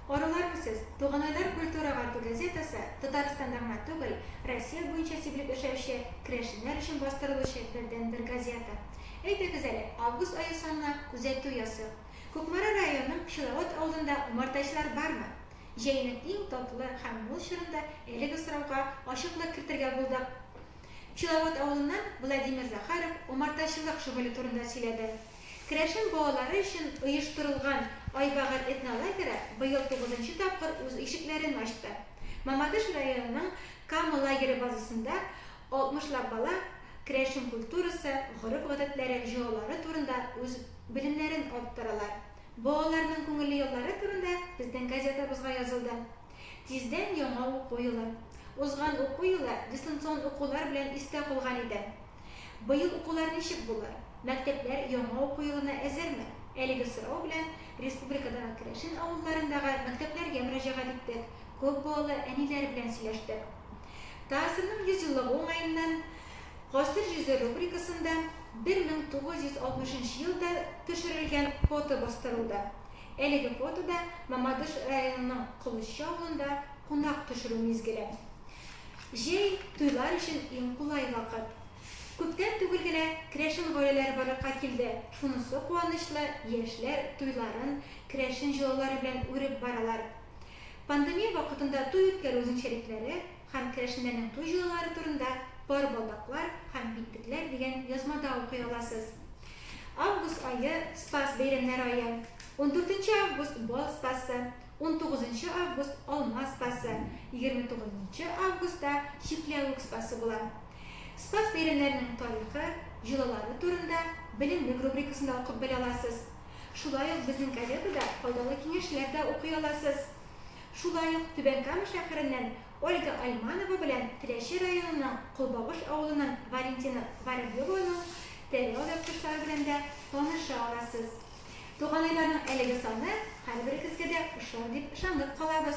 Арулар үсез, Туганайлар культура гарту газетасы Татарстанда гына түгел, Россия буенча сибелеп яшәүче керәшеннәр өчен бастырылучы бердәнбер газета. Әйдәгез әле, август ае санына күзәтү ясыйк. Кукмара районының Пчеловод авылында умартачылар бармы? Җәйнең иң татлы һәм мул чорында әлеге сорауга ачыклык кертергә булдык. Пчеловод авылыннан Владимир Захаров умартачылык шөгыле турында сөйләде. Керәшен балалары өчен оештырылган Айбагыр этнолагеры быел тугызынчы тапкыр үз ишекләрен ачты. Мамадыш районының Кама лагере базасында алтмышлап бала керәшен культурасы, гореф-гадәтләре, җолалары турында үз белемнәрен арттыралар. Балаларның күңелле еллары турында безнең газетабызга язылды. Тиздән яңа уку елы. Узган уку елы дистанцион укулар белән истә калган иде. Быел укулар ничек булыр? Мәктәпләр яңа уку елына әзерме? Әлеге сорау белән республикадагы керәшен авылларындагы мәктәпләргә мөрәҗәгать иттек, күп балалы әниләр белән сөйләштек. ТАССРның 100 еллыгы уңаеннан Гасыр җөзе рубрикасында 1960 нчы елда төшерелгән фото бастырылды. Әлеге фотода Мамадыш районының Колызчы авылында кунак төшерү мизгеле. Җәй, туйлар өчен иң кулай вакыт. Күптән түгел генә керәшен гаиләләре барлыкка килде, шунысы куанычлы, яшьләр туйларын керәшен җолалары белән үреп баралар. Пандемия вакытында туй үткәрү үзенчәлекләре һәм керәшеннәрнең туй җолалары турында Пар балдаклар һәм битлекләр дигән язмада укый аласыз. Август ае, Спас бәйрәмнәре ае. Ундүртенче август, Бал Спасы. Унтугызынчы август Алма Спасы, егерме тугызынчы августта Чикләвек Спасы була. Спас бәйрәмнәренең тарихы, җолалары турында Белемлек рубрикасында укып белә аласыз. Шулай ук безнең газетада файдалы киңәшләр дә укый аласыз. Шулай ук Түбән Кама шәһәреннән Ольга Альманова белән Теләче районының Колбавыш авылының Валентина Воробьеваның тәре алъяпкычлары белән дә таныша аласыз. Туганайларның әлеге саны һәрберегезгә дә ошар дип ышанып калабыз.